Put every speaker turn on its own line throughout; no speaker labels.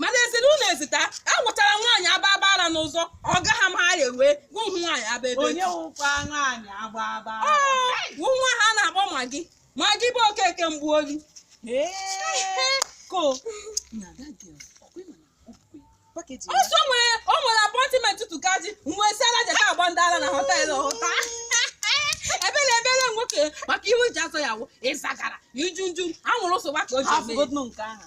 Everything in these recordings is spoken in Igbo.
mana e si na ụlọ ezita agwụchara nwaanyị aba aba ara n'ụzọ ọ gaghị ama ha ewe gụ hụ nwaanyị aba ebe onye wụkwa
nwaanyị agba agba wụ nwa
ha na-akpọ magi magi bụ okeke mgbu oyi ko ọsọ nwere o nwere apọịntịmentị tụkaji mgbe si ala jeta agba ndị ara na họtelụ hụta ebele ebele nwoke maka ihe o ji azọ ya wụ ịzagara iju nju anwụrụ ụsọ gbaka o ji eme ya. nke ahụ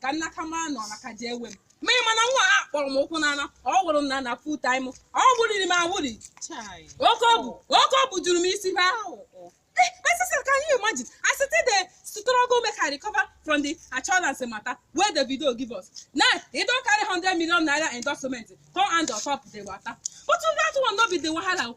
ka nna ka mara na ọla ka ji ewe m ma ị ma na nwa a kpọrọ m ụkwụ n'ana ọ wụrụ m na na full time ọ wụriri m awụri Chai. oke ọ bụ oke ọ bụ juru m isi ha Eh, my sister, can you imagine? I still dey struggle make I recover from the assurance matter wey Davido give us. Now, they don carry 100 million naira endorsement come add on top the water. But that one no be the wahala. o.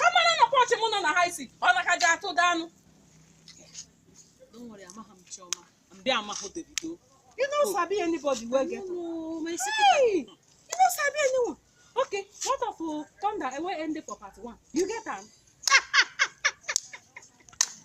ha mara na pọchị m nọ na ha isi ọ na ka ji atụ da anụ
Don't worry, amaghị m Chioma. Mbe amaghị Davido. you no sabi
anybody wey get No, my secret. hey
you no
sabi anyone okay what of uh, thunder wey end for part one you get am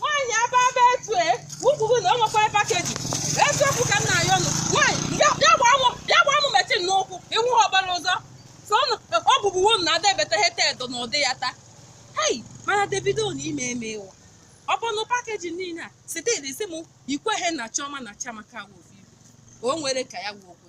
nwaanyị aba aba etu e kwuru na o nwekwara pakeji eziokwu ka m na-ayọ nụ nwaanyị bịa gbaa mụ bịa gbaa mụ metin n'ụkwụ iwu ha ọbara ụzọ so ọ bụbu wonu na ada ebeta heta edo na ụdị ya taa hei mana Davido na-eme eme ịwa ọ bụ na pakeji niile a site isi m ikweghị na Chioma na Chiamaka wụ o nwere ka ya wụ okwu